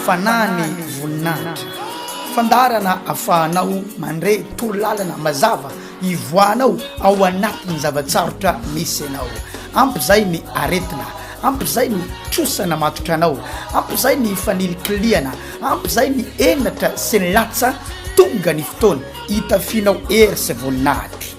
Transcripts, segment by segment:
Fanahy ny voninahitra. Fandaharana afahanao mandre torolalana mazava ivoahanao ao anatin'ny zava-tsarotra misy anao. Ampy izay ny aretina, ampy izay ny trosa namatotra anao, ampy izay ny fanilikilihana, ampy izay ny henatra sy ny latsa, tonga ny fotoana hitafianao hery sy voninahitra.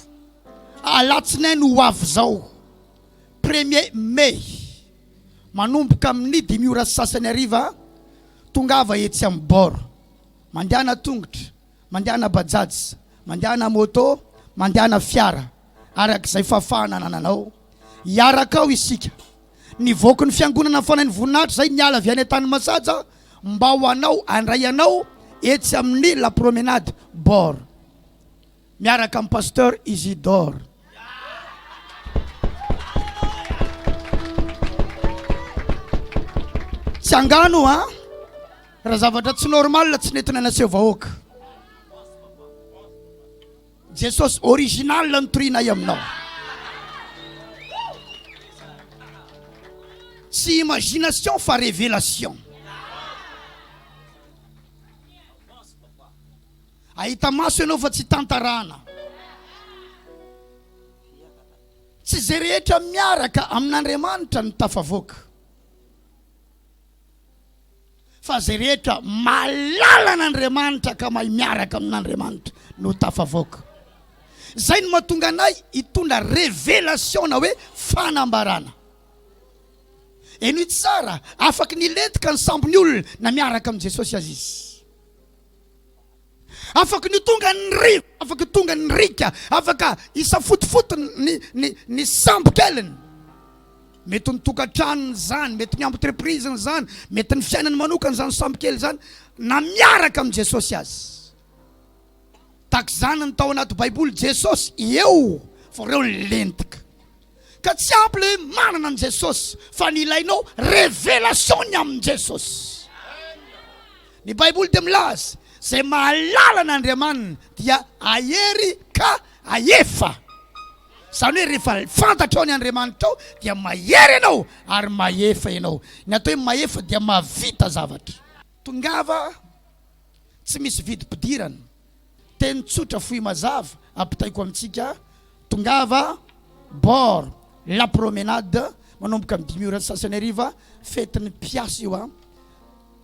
Alatsinainy ho avy izao, premier mai, manomboka amin'ny dimy ora sy sasany hariva, tongava etsy amin'ny bord. Mandehana tongotra, mandehana bajaj, mandehana moto, mandehana fiara, araka izay fahafahana anananao. Hiaraka ao isika. Ny voakon'ny Fiangonana Fanahin'ny Voninahitra izay miala avy any Antanimasaja mba ho anao, handray anao etsy amin'ny la promenade, bord. Miaraka am Pasteur Isidore. Tsy angano a! Raha zavatra tsy normal tsy nentina naseho vahoaka. Jesosy original no torianay aminao. Tsy imagination fa révélation. Ahita maso ianao fa tsy tantarana. Tsy izay rehetra miaraka amin'Andriamanitra no tafavoaka. Fa izay rehetra malala an'Andriamanitra ka mahay miaraka amin'Andriamanitra no tafavoaka. Izay no mahatonga anay hitondra revelation na hoe fanambarana. Eny tsara, afaky nilentika ny sambon'ny olona na miaraka amin'i Jesosy aza izy. Afaka ny tonga ny ry, afaka ny tonga ny rika, afaka hisafotofoto ny, ny, ny sambo keliny. Mety ny tokantranony izany, mety ny entreprise-ny izany, mety ny fiainany manokana izany sambo kely izany, na miaraka amin'i Jesosy aza. Takizany ny tao anaty Baiboly, Jesosy eo, fa reo ny lentika. Ka tsy ampy le manana an'i Jesosy fa ny ilainao révélation-ny amin'i Jesosy. Ny baiboly dia milaza, izay mahalala an'Andriamaniny dia ahery ka ahefa. Izany hoe rehefa fantatrao ny Andriamanitrao dia mahery ianao ary mahefa ianao. Ny atao hoe mahefa dia mahavita zavatra. Tongava tsy misy vidim-pidirana. Teny tsotra fohy mazava ampitaiko amintsika, tongava bord la promenade manomboka amin'ny dimy ora sy sasany hariva, fetin'ny mpiasa io a!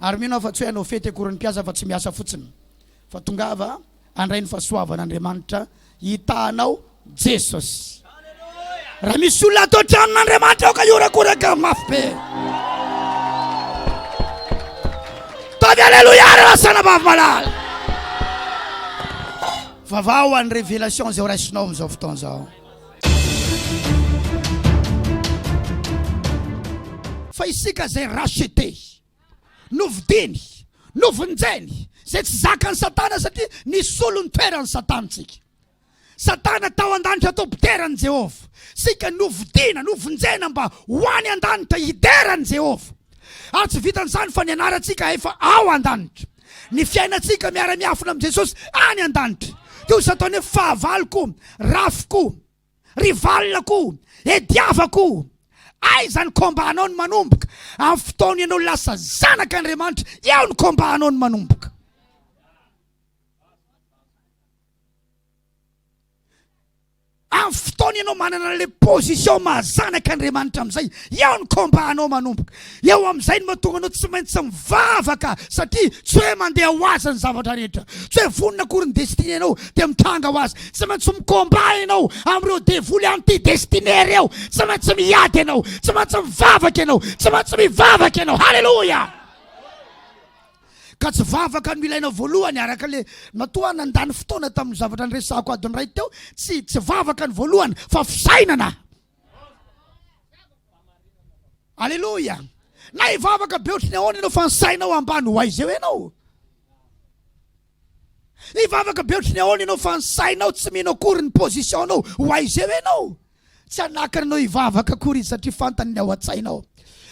Ary mino aho fa tsy hoe hanao fety akory ny mpiasa fa tsy miasa fotsiny, fa tongava handray ny fahasoavan'Andriamanitra. Hitahanao Jesosy. Raha misy olona ato an-tranon' Andriamanitra aoka hihorakoraka mafy be. Taovy aleloia raha lasana vavy malala. Vavaho any révélation zao raisinao amin'izao fotoana izao. Fa isika izay racheté. Novidiny, novonjeny, izay tsy zakan'i Satana satria nisolo ny toeran'i Satana isika. Satana tao an-danitra tao mpidera an'i Jehovah. Isika novidina, novonjena mba ho any an-danitra hidera an'i Jehovah. Ary tsy vitan'izany fa ny anarantsika efa ao an-danitra. Ny fiainantsika miara-miafina amin'i Jesosy any an-danitra. Toy izay ataony hoe, Fahavaloko, rafiko. Rival ko! Ediava ko! Aiza ny combat anao no manomboka? Amin'ny fotoana ianao lasa zanak' Andriamanitra, eo ny combat anao no manomboka! Amin'ny fotoana ianao manana an'ilay position maha zanak' Andriamanitra amin'izay, eo ny combat anao manomboka! Eo amin'izay no mahatonga anao tsy maintsy mivavaka satria tsy hoe mandeha ho azy ny zavatra rehetra. Tsy hoe vonona akory ny destinenao dia mitranga ho azy. Tsy maintsy mi-combat ianao amin'ireo devoly anti-destinée ireo. Tsy maintsy miady ianao. Tsy maintsy mivavaka ianao. Tsy maintsy mivavaka ianao. Haleloia! Ka tsy vavaka no ilaina voalohany araka ilay matoa aho nandany fotoana tamin'ny zavatra niresahako adiny iray teo. Tsy, tsy vavaka no voalohany fa fisainana. Aleloia! Na hivavaka be ohatry ny ahoana ianao fa ny sainao ambany ho aiza eo ianao? Hivavaka be ohatry ny ahoana ianao fa ny sainao tsy mino akory ny position-nao ho aiza eo ianao? Tsy hanakana anao hivavaka akory izy satria fantany ny ao an-tsainao.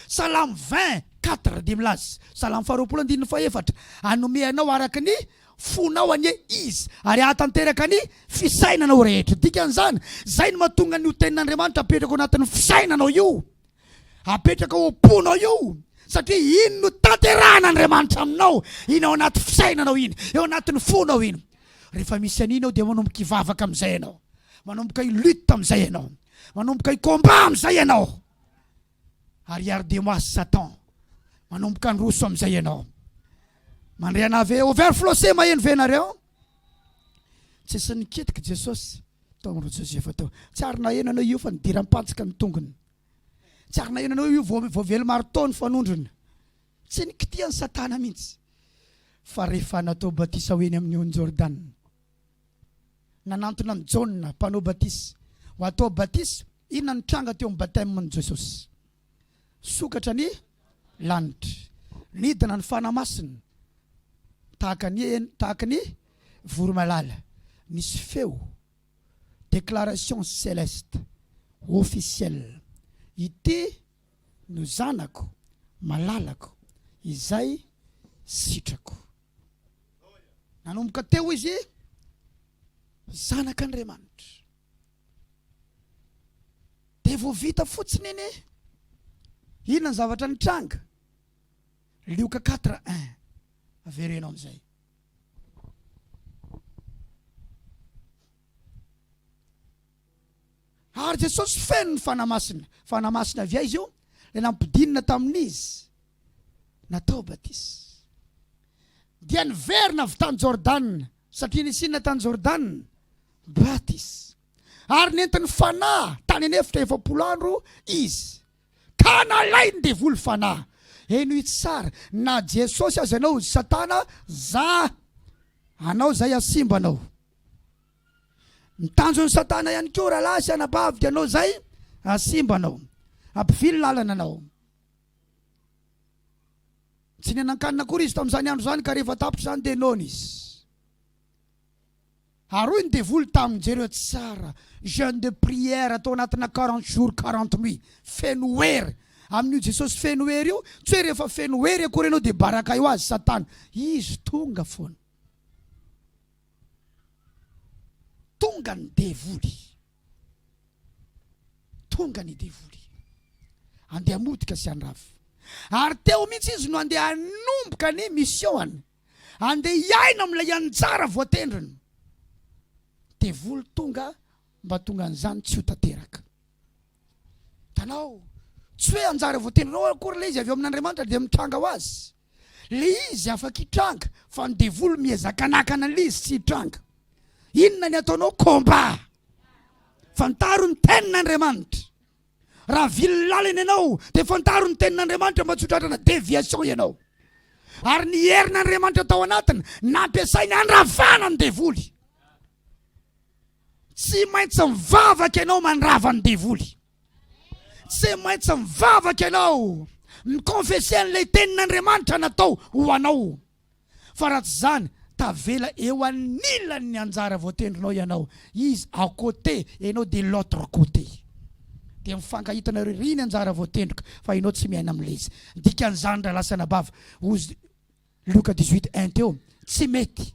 Salamo 20 4 dia milaza, Salamo faharoapolo andininy fahefatra, Hanome anao araka ny Fonao anie Izy ary hahatanteraka ny fisainanao rehetra. Dikan'izany, izay no mahatonga an'io Tenin'Andriamanitra apetraka ao anatin'ny fisainanao io, apetraka ao am-ponao io, satria iny no tanterahan'Andriamanitra aminao, iny ao anaty fisainanao iny, eo anatin'ny fonao iny. Rehefa misy an'iny ao dia manomboka hivavaka amin'izay ianao, manomboka hi-lutte amin'izay ianao, manomboka hi-combat amin'izay ianao. Ariary Demas Satan manomboka handroso amin'izay ianao. Mandre anah ve? Overflose maheno ve nareo? Tsisy nikitiky Jesosy tao amin'ireo Josefa tao. Tsy ary naheno anao io fa nidiram-pantsika ny tongony. Tsy ary naheno anao io voavelo marteau ny fanondrony. Tsy nikitihan'i Satana mihitsy. Fa rehefa natao batisa ho eny amin'ny ony Jordana, Nanantona an'i Jaona mpanao batisa ho hatao batisa. Inona no tranga teo amin'ny baptême-n'i Jesosy? Sokatra ny lanitra. Nidina ny Fanahy Masina tahaka ny hena, tahaka ny voromalala. Nisy feo, déclaration céleste, officielle, Ity no Zanako malalako izay sitrako. Nanomboka teo izy zanak'Andriamanitra. Dia vao vita fotsiny iny, inona ny zavatra nitranga? Lioka 4 1 averenao amin'izay. Ary Jesosy feno ny Fanahy Masina. Fanahy Masina avy aiza io? Ilay nampidinina tamin'izy natao batisa. Dia niverina avy tany Jordana, satria nisy inona tany Jordana? Batisa. Ary nentin'ny Fanahy tany an'efitra efapolo andro izy. Ka nalain'ny devoly Fanahy. Heno itsy tsara, na Jesosy aza ianao, Satana, za anao zay hasimba anao. Ny tanjon'i satana ihany koa rahalahy sy anabavy dia anao izay hahasimba anao, hampivily lalana anao. Tsy nihinan-kanina akory izy tamin'izany andro izany ka rehefa tapitra izany dia noana izy. Ary hoy ny devoly taminy, jereo tsara, jeune de prière atao anatina quarante jours quarante nuits, feno hery, amin'io Jesosy feno hery io, tsy hoe rehefa feno hery akory ianao dia baraka eo azy satana, izy tonga foana. Tonga ny devoly. Tonga ny devoly. Andeha hamotika sy handrava. Ary teo mihitsy izy no andeha hanomboka ny mission-any. Andeha hiaina amin'ilay anjara voatendriny. Devoly tonga mba tongan'izany tsy ho tanteraka. Hitanao? Tsy hoe anjara voateninao akory ilay izy avy ao amin'Andriamanitra dia mitranga ho azy. Ilay izy afaka hitranga fa ny devoly miezaka hanakana an'ilay izy tsy hitranga. Inona ny ataonao? Combat! Fantaro ny tenin'Andriamanitra. Raha vily lalina ianao dia fantaro ny tenin'Andriamanitra mba tsy ho tratrana déviation ianao. Ary ny herin'Andriamanitra tao anatiny nampiasainy handravana ny devoly. Tsy maintsy mivavaka ianao mandrava ny devoly. Tsy maintsy mivavaka ianao mi-confesser an'ilay tenin'Andriamanitra natao ho anao. Fa raha tsy izany, tavela eo anilan'ny anjara voatendrinao ianao, Izy à côté, ianao de l'autre côté. Dia mifankahitana eo iry ny anjara voatendriko fa ianao tsy miaina amin'ilay izy. Ny dikan'izany, rahalahy sy anabavy, hozy Lioka dix-huit, un teo, tsy mety.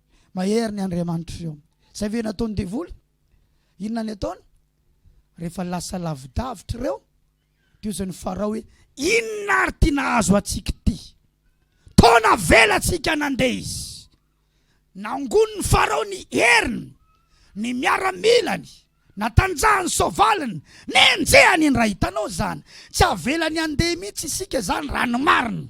Mahery ny Andriamanitro Ziona. Izay ve nataon'ny devoly? Inona ny ataony? Rehefa lasa lavidavitra ireo, dia hoy izany Farao hoe, Inona ary ity nahazo antsika ity? Toa navelantsika nandeha izy. Nangonin'i Farao ny heriny, ny miaramilany, natanjahany ny soavaliny, nenjehany indray. Hitanao izany? Tsy avelany handeha mihitsy isika izany raha ny marina.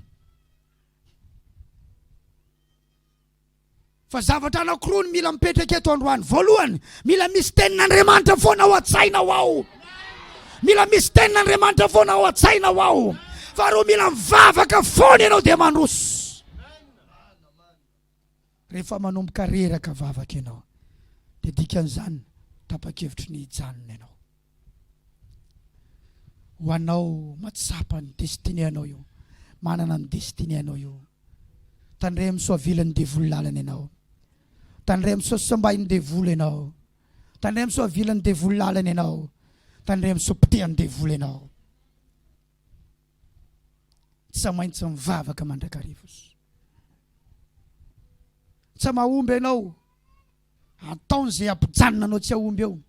Fa zavatra anankiroa no mila mipetraka eto androany. Voalohany, mila misy tenin'Andriamanitra foana ao an-tsaina ho ao. Mila misy tenin'Andriamanitra foana ao an-tsaina ho ao. Faharoa, mila mivavaka foana ianao dia mandroso. Rehefa manomboka reraka vavaka ianao dia dikan'izany tapa-kevitry ny hijanona ianao. ho anao matsapa ny destiné anao io manana ny destiné anao io tandremo so avilan'ny devoly lalana ianao tandremo so sambahin'ny devoly ianao tandremo so avilan'ny devoly lalana ianao tandremo so pitehan'ny devoly ianao tsy maintsy mivavaka mandrakariva tsy mahomby ianao Ataony izay hampijanona anao tsy hahomby eo.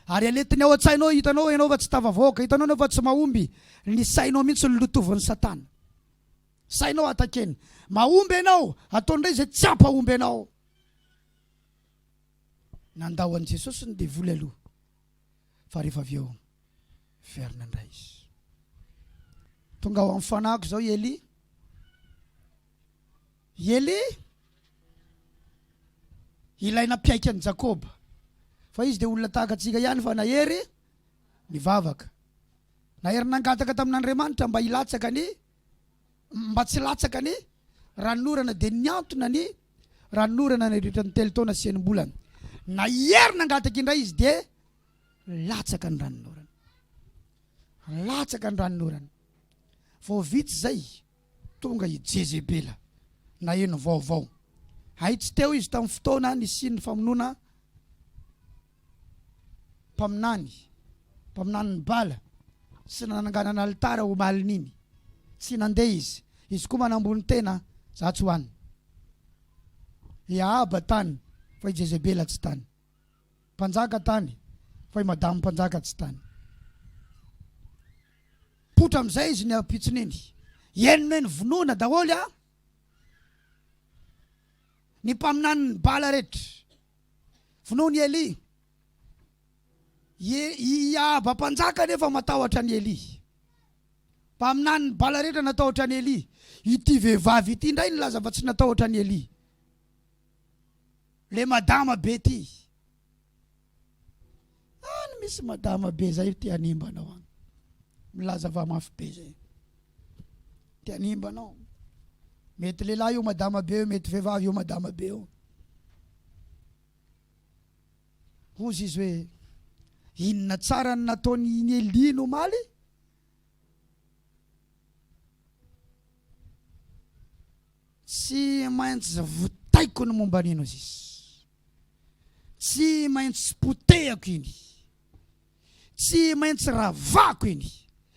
Ary alentiny ao an-tsainao, hitanao ianao fa tsy tafavoaka, hitanao ianao fa tsy mahomby, ny sainao mihitsy no lotovin'i Satana. Sainao atakeny. Mahomby ianao, ataony indray izay tsy hampahomby anao. Nandao an'i Jesosy ny devoly aloha, fa rehefa avy eo, verina indray izy. Tonga ao amin'ny fanahiko izao i Elia. I Elia, ilay nampiaiky an'i Jakoba, fa izy dia olona tahaka antsika ihany fa nahery nivavaka. Nahery nangataka tamin'Andriamanitra mba hilatsaka ny, mba tsy hilatsaka ny ranonorana, dia nihantona ny ranonorana nandritra ny telo taona sy enim-bolana. Nahery nangataka indray izy dia latsaka ny ranonorana. Latsaka ny ranonorana. Vao vitsy izay, Tonga i Jezebela, naheno vaovao. Hay tsy teo izy tamin'ny fotoana nisian'ny famonoana mpaminany, mpaminanin'i Bala, sy nananganana alitara omaly iny. Tsy nandeha izy. Izy koa manambony tena, Za tsy ho any. I Ahaba tany, fa i Jezebela tsy tany. Mpanjaka tany fa i madame mpanjaka tsy tany. Poitra amizay izy ny ampitson'iny. Henona eny vonoina daholo an! Ny mpaminanin'i Bala rehetra. Vonoin'i Elia. I Ahaba mpanjaka anefa matahotra an'i Elia. Mpaminanin'i Bala rehetra natahotra an'i Elia. Ity vehivavy ity indray nilaza fa tsy natahotra an'i Elia. Le madama be ty. Any misy madama be zay te hanimba anao any. Milaza va mafy be zay. Te hanimba anao. Mety lehilahy io madama be io, mety vehivavy io madama be io. Hozy izy hoe inona tsara ny nataony iny Elia no maly? Tsy maintsy votaiko ny momba an'i Enozis. Tsy maintsy potehako iny. Tsy maintsy ravako iny.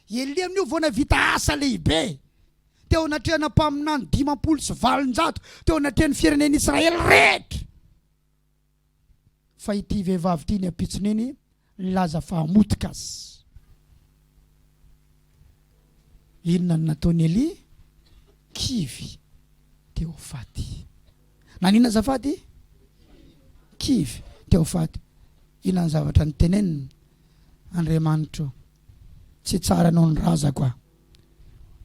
I Elia amin'io vao nahavita asa lehibe, teo anatrehana mpaminany dimampolo sy valonjato, teo anatrehan'ny firenen'Israely rehetra. fa ity vehivavy ity ny ampitsony iny nilaza fa hamotika azy. Inona no nataon'i Elia? Kivy te ho faty. Naninona azafady? Kivy te ho faty. Inona ny zavatra niteneniny? Andriamanitro, tsy tsara noho ny razako aho.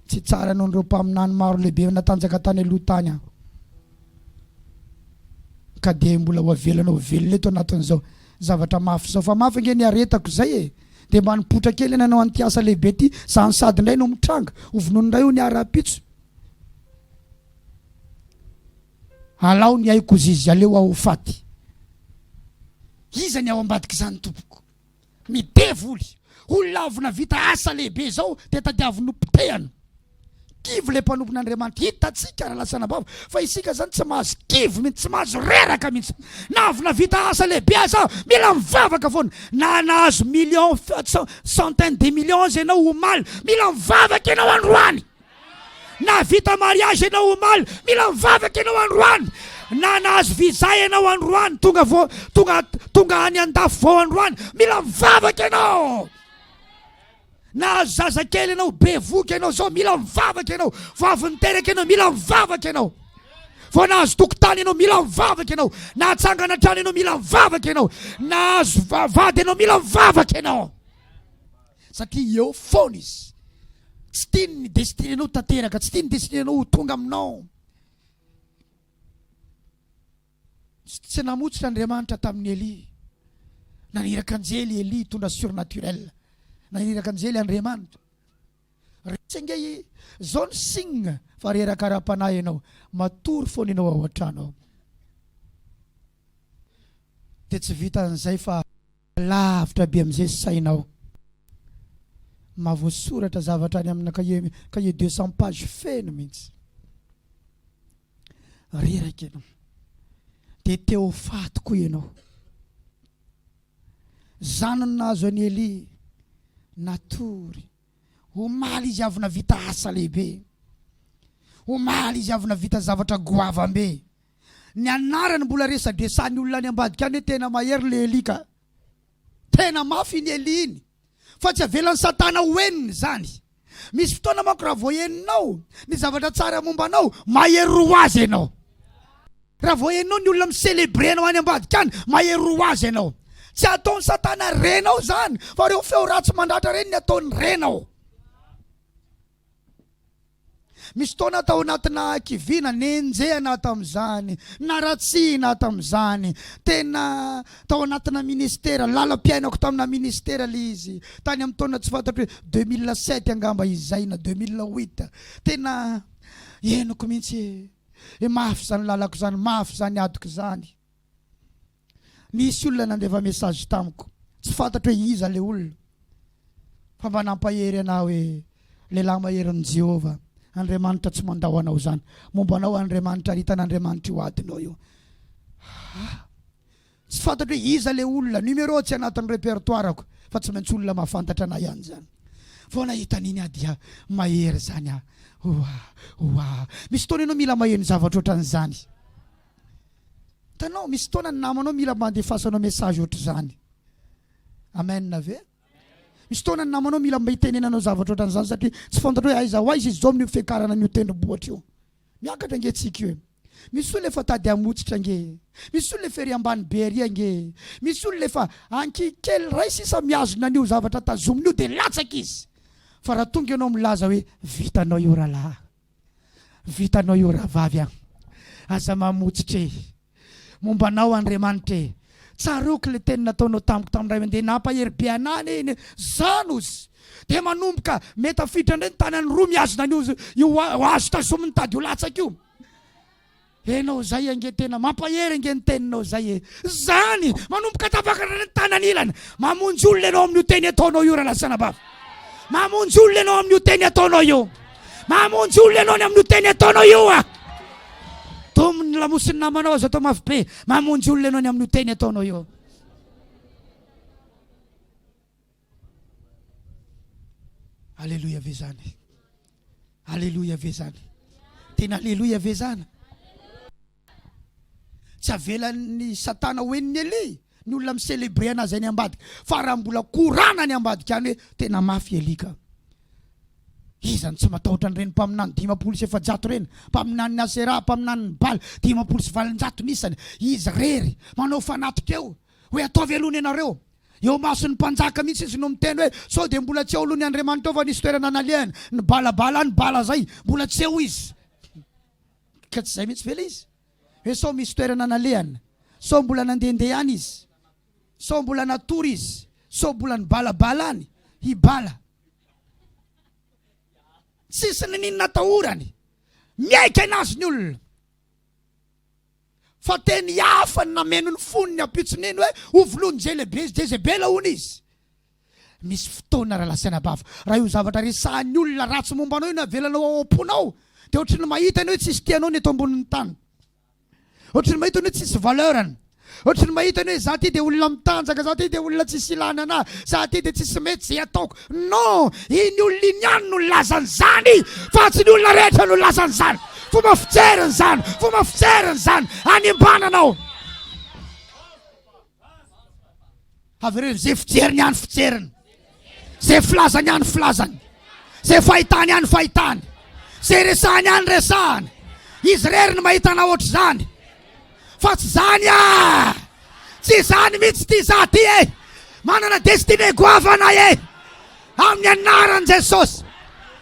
Tsy tsara noho ireo mpaminany maro lehibe efa natanjaka tany aloha tany aho, ka dia mbola ho avelana ho velona eto anatin'izao zavatra mafy izao. Fa mafy ange ny aretako izay e! Dia mba nipoitra kely nanao an'ity asa lehibe ity za no sady indray no mitranga ho vonoina indray hoy ny ahy rahampitso. Alao ny aiko hozizy, aleo aho ho faty. Iza ny ao ambadik'izany tompoko? Ny devoly, olona avy navita asa lehibe izao dia tadiaviny ho potehana. Kivy ilay mpanompon'Andriamanitra. Hitantsika raha latsana am-bava fa isika izany tsy mahazo kivy mihitsy, tsy mahazo reraka mihitsy. Na avy navita asa lehibe aza mila mivavaka foana. Na nahazo millions, centaines de millions ianao omaly, mila mivavaka ianao androany. Nahavita mariage ianao omaly, mila mivavaka ianao androany, na nahazo visa ianao androany, tonga vao tonga tonga any andafy vao androany, mila mivavaka ianao. Nahazo zaza kely ianao, bevoka ianao zao, mila mivavaka ianao. Vao avy niteraka ianao, mila mivavaka ianao. Vao nahazo tokotany ianao, mila mivavaka ianao. Nahatsangana trano ianao, mila mivavaka ianao. Nahazo vady ianao, mila mivavaka ianao. Satria eo foana izy. Tsy tiany ny destinée nao ho tanteraka, tsy tiany ny destinée nao ho tonga aminao. Tsy namotsitra Andriamanitra tamin'i Elia. Naniraka anjely Elia hitondra surnaturel. Naniraka anjely Andriamanitra. Retsy ange i zao ny signe fa reraka ara-panahy ianao. Matory foana ianao ao an-trano ao. Dia tsy vitan'izay fa. Lavitra be amin'izay sainao. Mahavoasoratra zavatra any amina cahier cahier deux cent pages feno mihitsy. Reraka ianao. Dia te ho faty koa ianao. Izany no nahazo an'i Elia. Natory. Omaly izy avy navita asa lehibe. Omaly izy avy navita zavatra goavambe. Ny anarany mbola resadresahan'ny olona any ambadika any hoe tena mahery le Elie ka! Tena mafy iny Elie iny fa tsy avelan'i satana ho henony izany. Misy fotoana manko raha vao henonao ny zavatra tsara momba anao, mahery roa ho azy ianao. Raha vao henonao ny olona mi-celebrer anao any ambadika any, mahery roa ho azy ianao. Tsy ataon'i satana renao izany fa ireo feo ratsy mandratra ireny ny ataony renao. Misy fotoana aho tao anatina hakiviana, nenjehina aho tamin'izany, naratsihina aho tamin'izany. Tena tao anatina ministera, lalam-piainako tamina ministera ilay izy. Tany amin'ny taona tsy fantatro hoe deux mille sept angamba izay na deux mille huit. Tena henoko mihitsy hoe mafy izany lalako izany, mafy izany adiko izany. Misy olona nandefa message tamiko, tsy fantatro hoe iza le olona fa mba nampahery anah hoe, Lehilahy maherin'i Jehovah, Andriamanitra tsy mandao anao zany, momba anao Andriamanitra ary hitan'Andriamanitra io adinao io. Hah! Tsy fantatro hoe iza le olona, numéro tsy anatin'ny repertoire-ko fa tsy maintsy olona mahafantatra anah ihany zany. Vao nahita an'iny aho dia mahery zany aho. Oah! Oah! Misy fotoana ianao mila maheno zavatra ohatran'izany. Hitanao, misy fotoana ny namanao mila mba handefasanao message ohatr'izany. Amen ve? Misy fotoana ny namanao mila mba hitenenanao zavatra ohatran'izany satria tsy fantatrao hoe aiza ho aiza izy izao amin'ny fiakarana an'io tendrombohitra io. Miakatra ange tsika io. Misy olona efa tady hamotsitra ange. Misy olona efa ery ambany be ery ange. Misy olona efa ankikely ray sisa mihazona an'io zavatra tazominy io dia latsaka izy. Fa raha tonga ianao milaza hoe vitanao io rahalahy. Vitanao io rahavavy a! Aza mamotsitra e! Momba anao Andriamanitra e! Tsaroako ilay teny nataonao tamiko tamin'ny iray mandeha nampahery be anà anie iny hoe, Zan oz! Dia manomboka me tafiditra indray ny tanany roa mihazona an'io io hazo tazomin'ny tady ho latsaka io. Enao zay ange tena mampahery ange ny teninao zay e! Zany! Manomboka tafakarina ny tanan'ilany! Mamonjy olona enao amin'io teny ataonao io Ralasanabavy! Mamonjy olona enao amin'io teny ataonao io! Mamonjy olona enao ny amin'io teny ataonao io a! Domo ny lamosin'ny namanao aza atao mafy be! Mamonjy olona enao ny amin'io teny ataonao io! Aleloia ve zany? Aleloia ve zany? Tena aleloia ve zany? Tsy avelan'ny satana ho en'ny Elia ny olona mi-célébrer anazy any ambadika fa raha mbola korana any ambadika any hoe tena mafy Elia ka. Iza no tsy matahotra an'ireny mpaminany dimampolo sy efajato ireny? Mpaminanin'i Asera, mpaminanin'i Bala dimampolo sy valonjato nisany. Izy rery manao fanatika eo hoe ataovy aloha ny anareo. Eo imason'ny mpanjaka mihitsy izy no miteny hoe, sao dia mbola tsy eo aloha ny Andriamanitra ao fa nisy toerana nalehany, ny bala bala any bala zay, mbola tsy eo izy. Ka tsy zay mihitsy ve le izy? Hoe sao misy toerana nalehany, sao mbola nandehandeha any izy, sao mbola natory izy, sao mbola ny bala bala any, i bala. Tsisy ny niny natahorany. Miaika enazy ny olona. fa teny hafa ny nameno ny fony ny ampitson'iny hoe ho filohan'i Jezebela hono izy. Misy fotoana Rahalahy sy Anabavy, raha io zavatra resahan'ny olona ratsy momba anao io no avelanao ao am-ponao, dia ohatry ny mahita ianao hoe tsisy tianao ny eto ambonin'ny tany. Ohatry ny mahita ianao hoe tsisy valeur-ny. Ohatry ny mahita ny hoe za ty dia olona mitanjaka, za ty dia olona tsisy ilana anahy, za ty dia tsisy mety izay ataoko. Non! Iny olona iny ihany no nilaza an'izany fa tsy ny olona rehetra no nilaza an'izany. Fomba fijeriny izany, fomba fijeriny izany, hanimbana anao. Avereno izay fijeriny ihany fijeriny, izay filazany ihany filazany, izay fahitany ihany fahitany, izay resahany ihany resahany. Izy irery no mahita anao ohatr'izany. Fa tsy izany ah! Tsy izany mihitsy ity za ty e! Manana destiné goavana e! Amin'ny anaran'i Jesosy.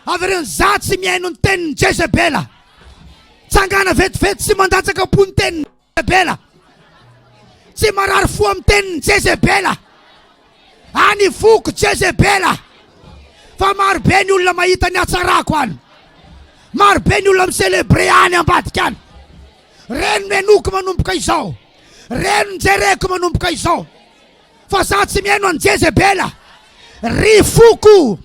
Avereno za tsy mihaino ny tenin'i Jezebela. Tsangana vetivety sy mandatsaka am-po ny teniny. Jezebela. Tsy marary fo amin'ny tenin'i Jezebela. Any foko Jezebela. Fa maro be ny olona mahita ny hatsarako any. Maro be ny olona mi-célébrer any ambadika any. Reny no henoiko manomboka izao. Reny no jereko manomboka izao. Fa za tsy mihaino an'i Jezebela. Ry foko,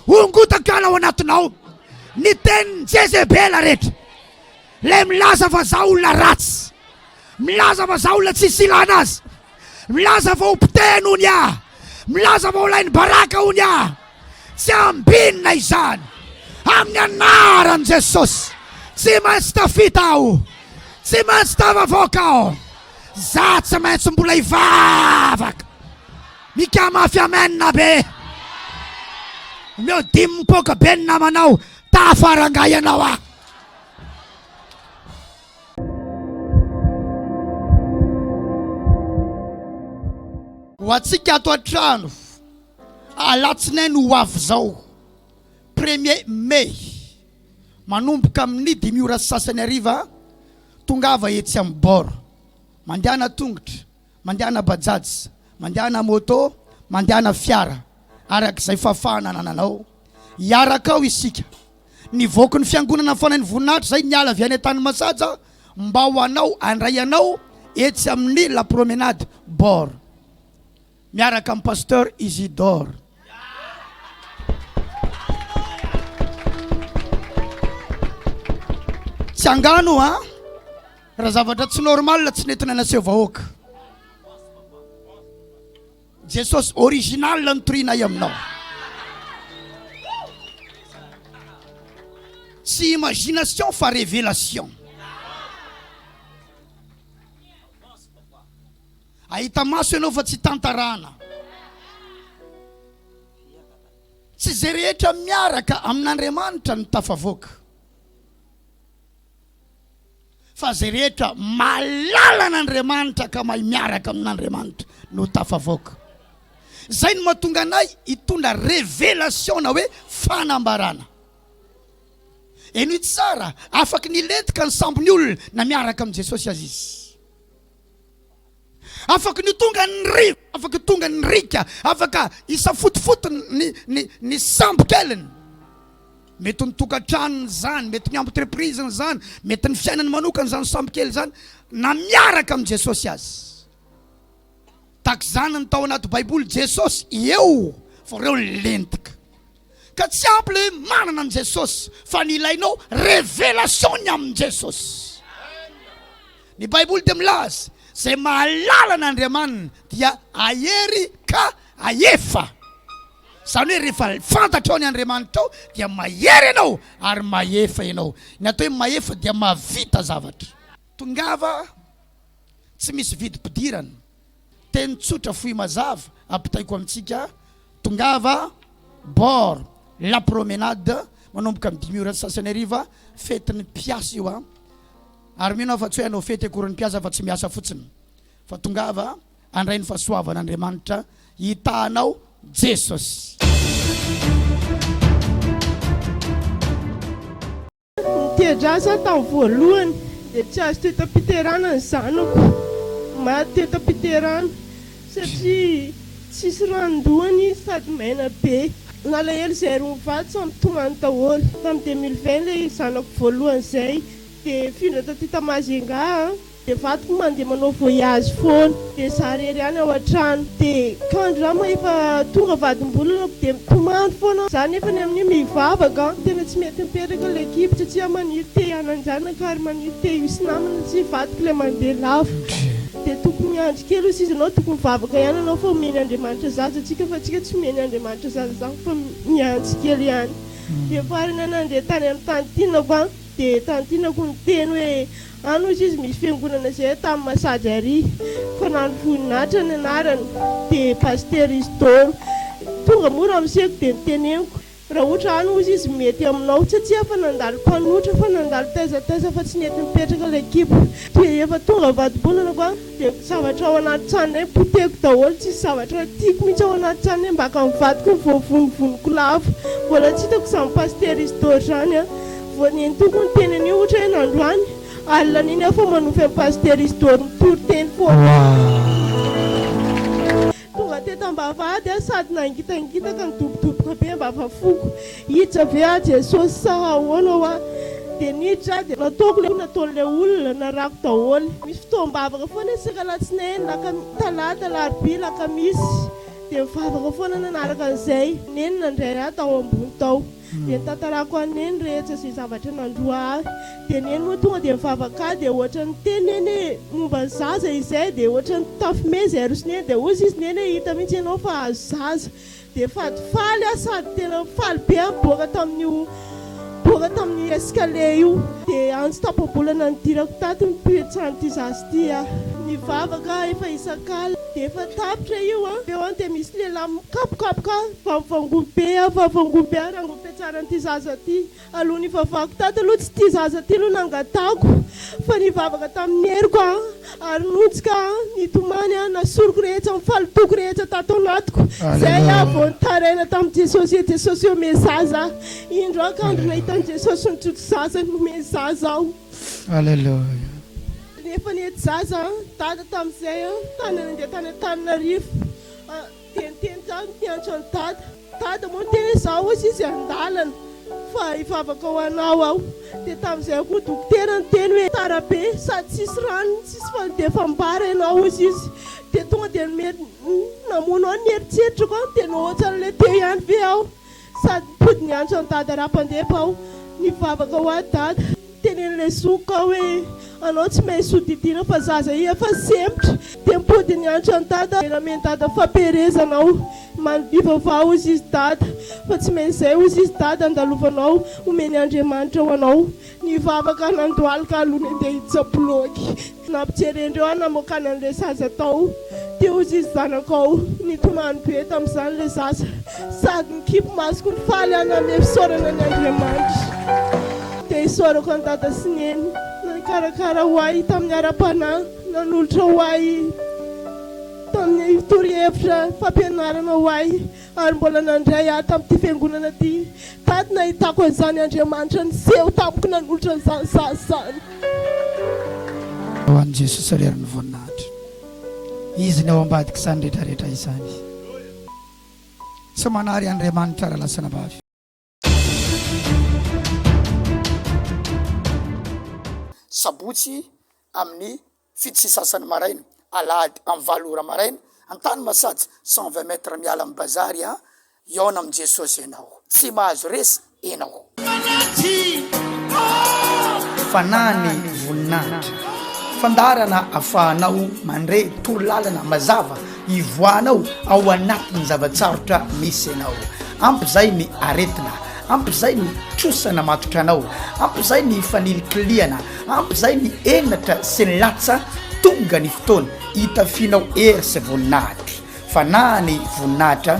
hongotako hiala ao anatinao ny tenin'i Jezebela rehetra. Ilay milaza fa za olona ratsy, milaza fa za olona tsisy ilana azy, milaza fa ho potehiny hono ia, milaza fa ho lain'ny baraka hono ia, tsy ambinina izany amin'ny anaran'i Jesosy. Tsy maintsy tafita aho, tsy maintsy tafavoaka aho, za tsy maintsy mbola hivavaka. Mika mafy amen be. Omeo dimy mipoaka be ny namanao, tafara angahy ianao ah. Ho antsika ato an-trano, alatsinainy ho avy izao, premier mai, manomboka amin'ny dimy ora sy sasany hariva, tongava etsy amin'ny bord, mandehana an-tongotra, Mandehana bajaj, mandehana moto, mandehana fiara, araka izay fahafahana anananao. Hiaraka ao isika. Nivoaky ny fiangonana fanain'ny voninahitra izay niala avy any an-tanimasaja mba ho anao handray anao etsy amin'ny la promenade bord miaraka amin'i pasteur Isidore. Tsy angano an! Raha zavatra tsy normal tsy nentina naseho vahoaka. Jesosy original no torianay aminao. Tsy imagination fa révélation. Ahita maso ianao fa tsy tantarana. Tsy izay rehetra miaraka amin'Andriamanitra no tafavoaka. fa izay rehetra mahalala an'Andriamanitra ka mahay miaraka amin'Andriamanitra no tafavoaka. Izay no mahatonga anay hitondra révélation na hoe fanambarana. Henoy tsara, afaky ny lentika ny sambon'ny olona na miaraka amin'i Jesosy aza izy. Afaka ny ho tonga ny rivo, afaka ho tonga ny riaka, afaka hisafotofoto ny, ny, ny sambo keliny. Mety ny tokantranony izany, mety ny entreprise izany, mety ny fiainany manokana izany sambo kely izany, na miaraka amin'i Jesosy azy. Takizany ny tao anaty Baiboly, Jesosy eo, fa reo lentika. Ka tsy ampy le hoe manana an'i Jesosy fa ny ilainao révélation-ny amin'i Jesosy. Ny baiboly dia milaza, izay mahalala an'Andriamaniny dia ahery ka ahefa. Izany hoe rehefa fantatrao ny Andriamanitrao dia mahery ianao ary mahefa ianao. Ny atao hoe mahefa dia mahavita zavatra. Tongava, tsy misy vidim-pidirana. Teny tsotra fohy mazava ampitaiko amintsika, tongava bord la promenade manomboka amin'ny dimy ora sy sasany hariva, fetin'ny mpiasa io a! Ary mino aho fa tsy hoe hanao fety akory ny mpiasa fa tsy miasa fotsiny, fa tongava handray ny fahasoavan'Andriamanitra hitahanao Jesosy. Nitety asa aho tamin'ny voalohany dia tsy azo teo tam-piterana ny zanako. Maty teo tam-piterana satria tsisy ranon-dohany izy sady maina be. Nalahelo izay roa mivady samy nitomany daholo. Tamin'ny deux mille vingt ilay zanako voalohany izay dia nifindra taty ta Majunga aho. Dia vadiko moa mandeha manao voyage foana, dia za irery ihany ao an-trano, dia kandry rano moa efa tonga vadim-bolana, dia mitomany foana aho, za nefany amin'io mivavaka, tena tsy mety mipetraka ilay kibo satria maniry te hanan-janaka ary maniry te hisy namana satria vadiko ilay mandeha lavitra, dia tokony miandry kely hozy izy ianao tokony mivavaka ihany ianao fa omeny Andriamanitra zaza antsika fa antsika tsy omeny Andriamanitra zaza izany fa mihantsy kely ihany, dia farany aho nandeha tany amin'ny tany tinako an, dia tany tinako niteny hoe. Any hozy izy misy fiangonana izay tamin'ny Masady ary fa nano voninahitra ny anarany dia Pasitera Isidoro tonga moa ramoseko dia niteneniko raha ohatra any hozy izy mety aminao tsy tsia fa nandalo mpanotra fa nandalo taiza taiza fa tsy nety nipetraka ilay kibo dia efa tonga vadi-bolana fa Dia ny zavatra ao anaty tranony hoe potehiko daholo, tsisy zavatra tiako mihitsy ao anaty tranony hoe mbaka ny vadiko no voavonivoniko lavo. Mbola tsy hitako izany Pasitera Isidore izany an! Vao nenitoako ny teny anio ohatra hoe nandroany, alina an'iny aho fa manofy an'i Pasitera Isidore mitory teny foana. Tonga teto am-bavahady aho sady nangitangitaka nidobodoboka be am-bavafoko. Hiditra ve aho Jesosy sa ahoana hoa? Dia niditra aho dia nataoko ilay nataon'ilay olona, narako daholo. Misy fotoam-bavaka foana isika alatsinainy, lakami-, talata, alarobia, lakamisy. Dia mivavaka foana nanaraka an'izay. Nenina indray aho tao ambony tao. dia nitantarako an'i Neny rehetra izay zavatra nandroa ahy, dia Neny moa tonga dia nivavaka ahy, dia ohatra ny teny Neny hoe momba ny zaza izay, dia ohatra ny tafo mena izay aroso Neny, dia hoy izy Neny hoe hita mihitsy ianao fa azo zaza, dia falifaly aho sady tena faly be aho niboaka tamin'io niboaka tamin'ny escalier io, dia antso tapa-bolana nidirako tato ny mpihoetsan'ity zaza ity aho, nivavaka aho efa isak'alina. Dia efa tapitra io an! Teo an dia misy lehilahy mikapokapoka ahy, vavovangoa be aho, vavovangoa be aho, rangoa fiatsaran'ity zaza ity. Aloha nivavahako tato aloha tsy ity zaza ity no nangatahako fa nivavaka tamin'ny heriko aho ary nonjika aho, nitomany aho, na soroko rehetra, ny fahalotoako rehetra tato anatiko. Zay aho vao nitaraina tamin'i Jesosy hoe Jesosy hoe omeo zaza aho. Indro aho kandry nahita an'i Jesosy nitsoto zaza, nomeny zaza aho. Alléluia. Efa nety zaza dada tamin'izay tany nandeha tany Antananarivo dia niteny tamiko niantra an'i dada, dada moa niteny hoe izaho hozy izy an-dalana fa hivavaka ho anao aho, dia tamin'izay koa dokotera niteny hoe tara be sady tsisy rano tsisy fanodefam-bara ianao hozy izy, dia tonga dia namono ahy ny eritreritrako dia nahoatran'ilay teo ihany ve aho. Sady mipody miantso an'i Dada raha mpandepa aho. Nivavaka ho ahy Dada. Tenenin'ilay zokiko aho hoe, Anao tsy maintsy sodidiana fa zaza iha efa sempotra. Dia mipody niantso an'i Dada. Dia namen'i Dada fampiherezana aho. Manobiva fa hozy izy Dada. Fa tsy maintsy izay hozy izy Dada andalovanao. Homeny Andriamanitra ho anao. Nivavaka nandohalika aloha ny andeha hiditra bilaogy. Nampijerendreo ahy namoaka ny an'ilay zaza tao. Te ho zizy zanako aho. Nitomany be tamin'izany ilay zaza. Sady nikipy masoko nifaly aho nanome fisaorana ny Andriamanitra. Te hisaorako an'i Dada sy Neny nikarakara ho ahy tamin'ny ara-panahy, nanolotra ho ahy tamin'ny torohevitra fampianarana ho ahy. Ary mbola nandray ahy tamin'ity fiangonana ity. Tady nahitako an'izany Andriamanitra niseho tamiko nanolotra an'izany zaza izany. Ho an'i Jesosy ary àry ny voninahitra. Izy ny ao ambadik'izany rehetra rehetra izany. Tsy manary Andriamanitra raha lasa anabavy. Sabotsy amin'ny fito sy sasany maraina, alahady amin'ny valo ora maraina, Antanimasatsy cent vingt mètres miala amin'ny bazary an, hihaona amin'i Jesosy ianao. Tsy mahazo resy ianao. Fanahiny voninahitra. Fandaharana afahanao mandre torolalana mazava. Ivoahanao ao anatin'ny zava-tsarotra misy ianao. Ampy izay ny aretina, ampy izay ny trosa namatotra anao, ampy izay ny fanilikilihana, ampy izay ny henatra sy ny latsa, tonga ny fotoana hitafianao hery sy voninahitra. Fanahy ny voninahitra.